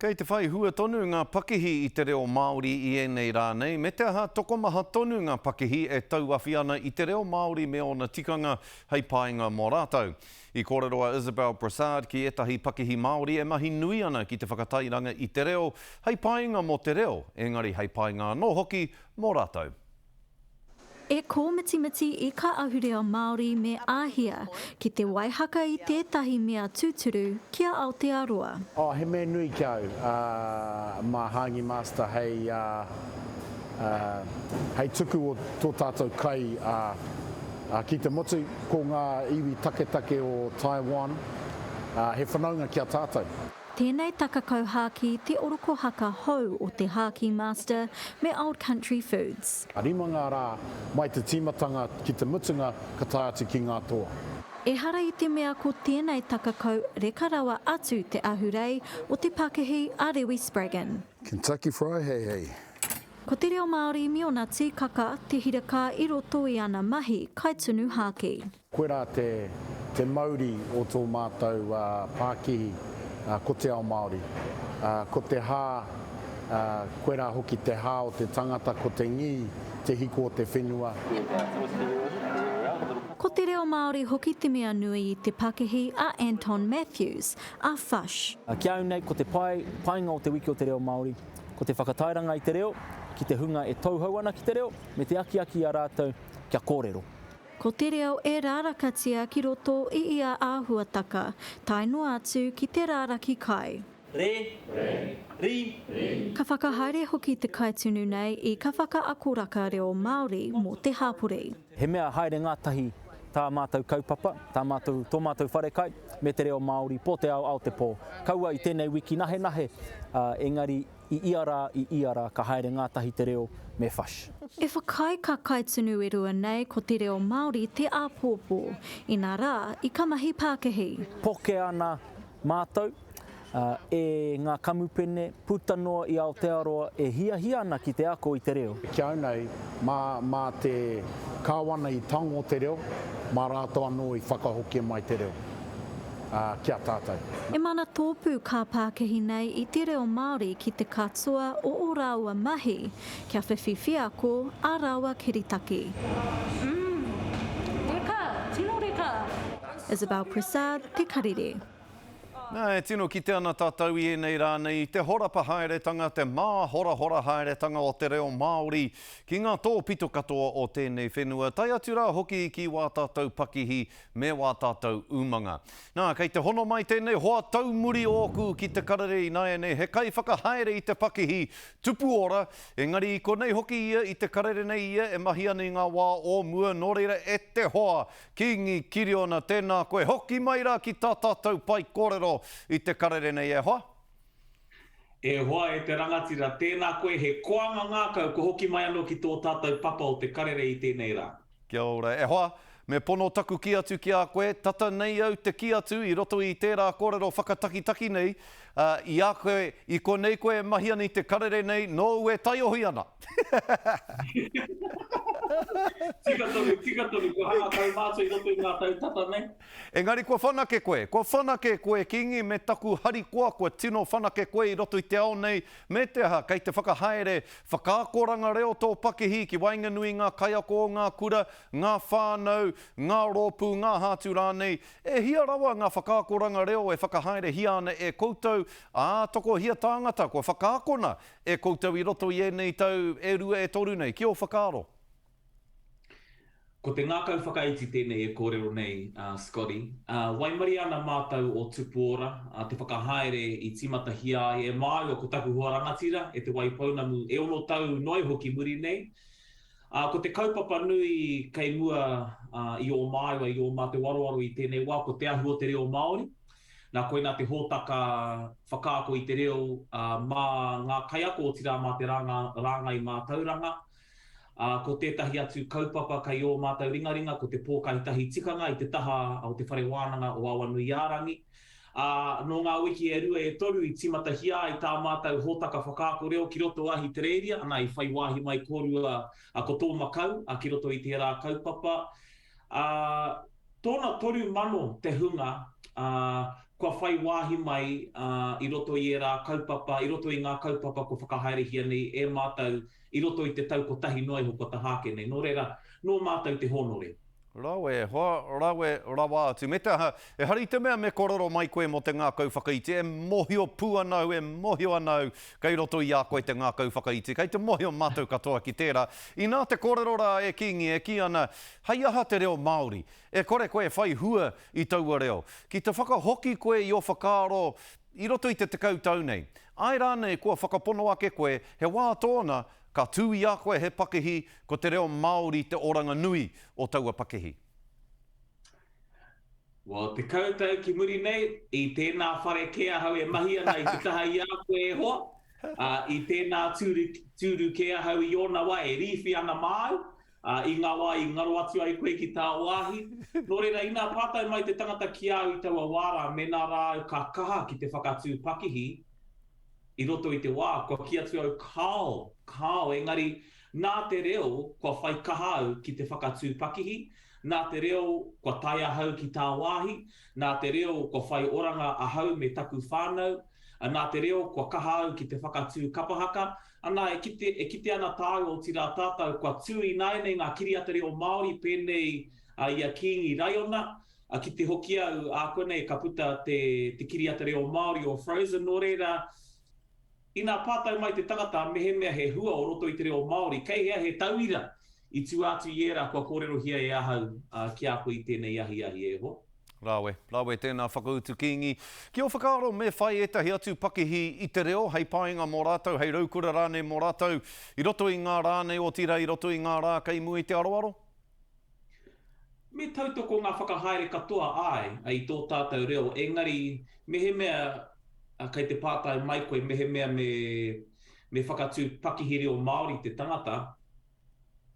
Kei te whai hua tonu ngā pakihi i te reo Māori i ēnei rā nei, me te aha, tokomaha tonu ngā pakihi e tauawhi ana i te reo Māori me ōna tikanga hei painga mō rātou. I kōrero a Isabel Brassard ki ētahi pakihi Māori e mahi nui ana ki te whakatairanga i te reo hei painga mō te reo, engari hei painga anō hoki mō rātou. E kōmitimiti i kā ahurea Māori me Āhia ki te waihaka i tētahi mea tūturu ki a Aotearoa. Oh, he mea nui ki a au, mā Hāngi Master hei, hei tuku o tō tātou kai ki te motu, ko ngā iwi taketake o Taiwan, he whanaunga ki a tātou. Tēnei taka kauhākī te orokohaka hou o te Hākī Master me Old Country Foods. Rima ngā rā, mai te tīmatanga ki te mutunga ka tae atu ki ngā toa. Ehara i te mea ko tēnei taka kau reka rawa atu te ahurei o te pakihi a Rewi Spraggon. Kentucky Fry Hei Hei. Ko te reo Māori me ōna tīkaka te hirakā i roto i ana mahi kai tunu hākī. Koirā te te mauri o tō mātou pākihi, ko te ao Māori. Ko te hā, koirā hoki te hā o te tangata, ko te ngī, te hiko o te whenua. Ko te reo Māori hoki te mea nui i te pakihi a Anton Matthews, a Fush. Ki a au nei, ko te pae, painga o te Wiki o te Reo Māori, ko te whakatairanga i te reo, ki te hunga e tauhou ana ki te reo, me te akiaki i a rātou kia kōrero. Ko te reo e rārakatia ki roto i ia āhuataka, tae noa atu ki te rāraki kai. Re, ri, ri. Ka whakahaere hoki te kaitunu nei i Ka Whakaakoraka Reo Māori mō te Hāpori. He mea haere ngātahi tā mātou kaupapa, tā mātou, tō mātou wharekai me te reo Māori, pō te ao, ao te pō. Kaua i tēnei wiki nahenahe, ā, engari I ia rā, i ia rā, ka haere ngātahi te reo me Fush. E whakaae ka kai tunu e rua nei ko te reo Māori te āpōpō. Inā rā, i ka mahi pākihi. Poke ana mātou, ā, e ngā kamupene puta noa i Aotearoa e hiahia ana ki te ako i te reo. Ki au nei, mā, mā te Kāwana i tango te reo, mā rātou anō i whakahokia mai te reo. ki a tātou. E mana tōpū kā pākihi nei i te reo Māori ki te katoa o o rāua mahi, kia whiwhi wheako ā rāua kiritaki. Umm. Reka, tino reka. Isabelle Prasad, Te Karere. Nā, e tino kite ana tātou i ēnei rā nei, i te horapa haeretanga, te māhorahora haeretanga o te reo Māori ki ngā tōpito katoa o tēnei whenua, tae atu rā hoki ki wā tātou pakihi me wā tātou umanga. Nā, kei te hono mai tēnei hoa taumuri ōku ki te karere ināianei he kaiwhakahaere i te pakihi tupu ora, engari i konei hoki ia i te karere nei ia e mahi ana i ngā wā o mua, nō reira e te hoa, Kīngi Kiriona, tēnā koe, hoki mai rā ki tā tātou pai kōrero i te karere nei e hoa. E hoa e te rangatira, tēnā koe, he koanga ngākau kua hoki mai anō ki tō tātou papa o te karere i tēnei rā. Kia ora e hoa. Me pono taku kī atu ki a koe, tata nei au te kī atu i roto i tērā kōrero whakatakitaki nei, ā, i a koe, i konei koe e mahi ana i te karere nei, nōu e taiohi ana. Tika tonu, tika tonu, kua rākau mātou i roto i ngā tau tata nei. Engari kua whanake koe, kua whanake koe Kīngi me taku harikoa kua tino whanake koe i roto i te ao nei, Me te aha, kei te whakahaere whakaakoranga reo tō pakihi ki waenganui i ngā kaiako o ngā kura, ngā whānau, ngā rōpū, ngā hātu rānei. E hia rawa ngā whakaakoranga reo e whakahaerehia ana e koutou, ā, tokohia tāngata kua whakaakona e koutou i roto i ēnei tau e rua e toru nei, ki ō whakaaro? Ko te ngākau whakaiti tēnei e kōrero nei a Scotty. Waimarie ana mātou o Tupuora, te whakahaere i tīmatahia ai e māua ko taku hoa rangatira e Te Waipounamu e ono tau noa iho ki muri nei. Ko te kaupapa nui kei mua i ō māua, i ō mātou aroaro i tēnei wā, ko te ahu o te reo Māori. Nā koinā te hōtaka whakaako i te reo mā ngā kaiako otirā mā te rāngai mātauranga, Ā, ko tētahi atu kaupapa kei ō mātou ringaringa ko te pōkai tahi tikanga i te taha o Te Whare Wānanga o Awanuiārangi. Ā, nō ngā wiki e rua e toru i tīmatahia ai tā mātou hōtaka whakaako reo ki roto Ahitereiria, anā, i whai wāhi mai kōrua ko tō Makau ki roto i tērā kaupapa. Ā, tōna toru mano te hunga, ā, kua whai wāhi mai i roto i ērā kaupapa, i roto i ngā kaupapa kua whakahaerehia nei e mātou, i roto i te tau kotahi noa iho kua taha ake nei, nō reira, nō mātou te hōnore. Rawe, hoa, rawe rawa atu. Me te aha, ehara i te mea me korero mai koe mō te ngākau whakaiti, e mōhio pū ana au, e mōhio ana au, kei roto i a koe te ngākau whakaiti, kei te mōhio mātou katoa ki tērā. Inā te kōrero rā e Kīngi e kī ana, hei aha te reo Māori? E kore koe e whai hua i taua reo. Ki te whakahoki koe i ō whakaaro, I roto i te tekau tau nei. Āe rānei kua whakapono ake koe he wā tōna ka tū i a koe he pakihi ko te reo Māori te oranga nui o taua pakihi? Well, tekau tau ki muri nei, i tēnā whare kē ahau e mahi ana i te taha i a koe e hoa, ā, i tēnā tūru kē ahau i ōna wā e rīwhi ana māu, Ā, i ngā wā i ngaro atu ai koe ki tā wāhi, nō reira, inā pātai mai te tangata ki a au i taua wā rā, mēnā rā au ka kaha ki te whakatū pakihi i roto i te wā, kua kī atu au, Kāo, kāo, engari, nā te reo, kua whai kaha au ki te whakatū pakihi, nā te reo, kua tae ahau ki tā wāhi, nā te reo, kua whai oranga ahau me taku whānau, nā te reo, kua kaha au ki te whakatū kapahaka, Ana, e kite, e kite ana tāu, otirā tātou, kua tū ināianei ngā kiriata reo Māori pēnei i a Kīngi Raiona, ā, kite hoki au, ākuanei ka puta te, te kiriata reo Māori o Frozen, nō reira, inā pātai mai te tangata mehemea he hua o roto i te reo Māori, kei hea he tauira I tua atu i ērā, kua kōrerohia e ahau ki a koe i tēnei ahiahi, e hoa. Rawe, rawe tēnā whakautu Kīngi. Ki ō whakaaro me whai ētahi atu pakihi i te reo hei painga mō rātou, hei raukura rānei mō rātou, i roto i ngā rā nei, otirā i roto i ngā rā kei mua i te aroaro? Me tautoko ngā whakahaere katoa, āe, i tō tātou reo, engari mehemea kei te pātai mai koe mehemea me whakatū pakihi reo Māori te tangata,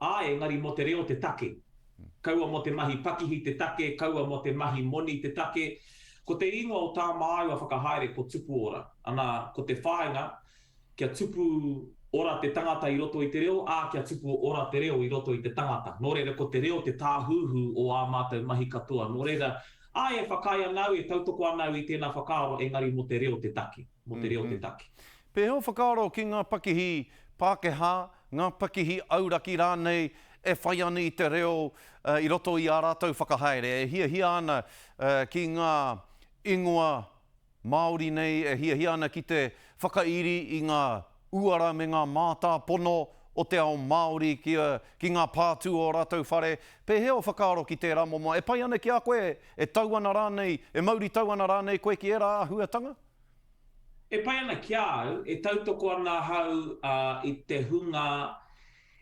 Ā, engari mō te reo te take. Kaua mō te mahi pakihi te take, kaua mō te mahi moni te take. Ko te ingoa o tā māua whakahaere ko Tupu Ora. Anā, ko te whāinga, kia tupu ora te tangata i roto i te reo, ā, kia tupu ora te reo i roto i te tangata. Nō reira, ko te reo te tāhuhu o ā mātou mahi katoa. Nō reira, āe, e whakaae ana au, e tautoko ana au i tēnā whakaaro, engari mō te reo te take. Mō te reo te take. Pēhea o whakaaro ki ngā pakihi Pākehā ngā pakihi auraki rānei e whai ana i te reo i roto i ā rātou whakahaere, e hiahia ana ki ngā ingoa Māori nei, e hiahia ana ki te whakairi i ngā uara me ngā mātāpono o te ao Māori ki ngā pātū o ō rātou whare. Pēhea ō whakaaro ki tērā momo? E pai ana ki a koe, e tau ana rānei, e mauritau ana rānei koe ki ērā āhuatanga? E pai ana ki a au, e tautoko ana ahau i te hunga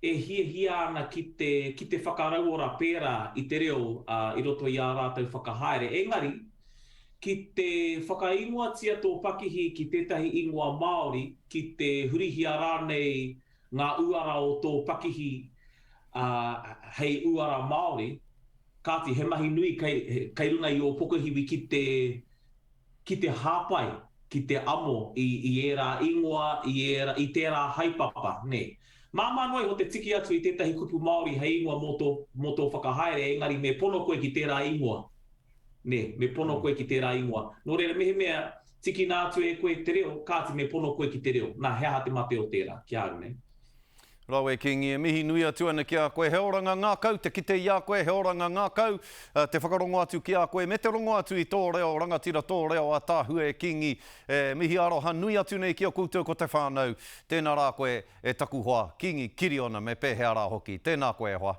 e hiahia ana ki te, ki te whakarauora pērā i te reo i roto i ā rātou whakahaere. Engari, ki te whakaingoatia tō pakihi ki tētahi ingoa Māori, ki te hurihia rānei ngā uara o tō pakihi hei uara Māori, kāti, he mahi nui kei, kei runga i ō pokohiwi ki te, ki te hāpai, ki te amo i, i ērā ingoa, i ērā, i tērā haepapa, nē. Māmā noa iho te tiki atu i tētahi kupu Māori hei ingoa mō tō, mō tō whakahaere, engari me pono koe ki tērā ingoa. Nē, me pono koe ki tērā ingoa. Nō reira, mehemea tikina atu e koe te reo, kāti me pono koe ki te reo. Nā, he aha te mate o tērā? Kia au, nē. Rawe Kingi, e mihi nui atu ana ki a koe, he oranga ngakau te kite i a koe, he oranga ngakau te whakarongo atu ki a koe, me te rongo atu i tō reo, rangatira tō reo a Tahue Kingi, e mihi aroha nui atu nei ki a koutou ko te whānau, tēnā rā koe e taku hoa, Kingi Kiriona, me pēhea rā hoki, tēnā koe e hoa.